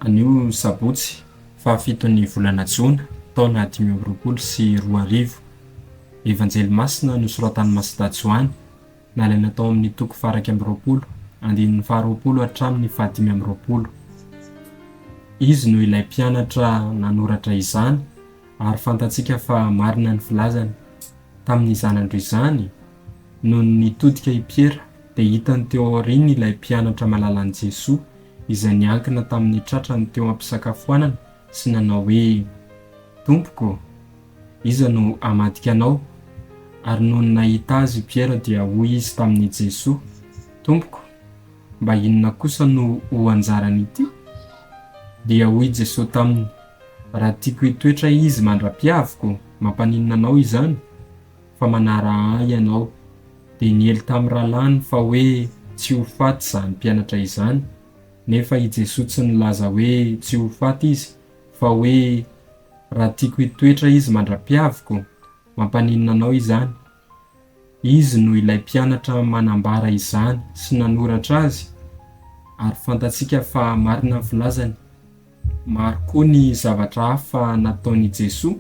Anio sabotsy fahafiton'ny volana jona taona dimy amby roapolo sy roa arivo, Evanjely masina nosoratan'i Masida Joany, nalaina tao amin'ny toko faharaika amby roapolo, andininy faharoapolo hatramin'ny fahadimy amby roapolo. Izy no ilay mpianatra nanoratra izany ary fantatsika fa marina ny filazany, tamin'ny zanany roa izany Nony nitodika i Piera, dia hitany teo aoriany ilay mpianatra malalan'i Jesoa, izay niankina tamin'ny tratrany teo am-pisakafoanana sy nanao hoe, Tompoko, iza no hamadika Anao? Ary nony nahita Azy i Piera dia hoy izy tamin'i Jesoa, Tompoko, mba inona kosa no ho anjaran'ity? Dia hoy Jesoa taminy, Raha tiako hitoetra Izy mandra-piaviko, mampaninona Anao izany? fa manara ahy ianao, dia niely tamin'ny rahalahiny fa hoe tsy ho faty izany mpianatra izany, nefa i Jesoa tsy nilaza hoe tsy ho faty izy, fa hoe raha tiako hitoetra izy mandra-piaviko, mampaninona anao izany? Izy no ilay mpianatra manambara izany sy nanoratra azy, ary fantatsika fa marina ny filazany. Maro koa ny zavatra hafa nataon'i Jesoa.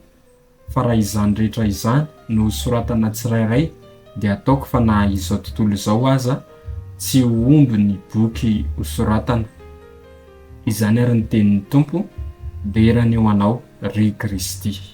fa raha izany rehetra izany no soratana tsirairay dia ataoko fa na izao tontolo izao aza tsy ho omby ny boky ho soratana. Izany ary ny tenin'ny Tompo, Dera ny ho anao, ry Kristy.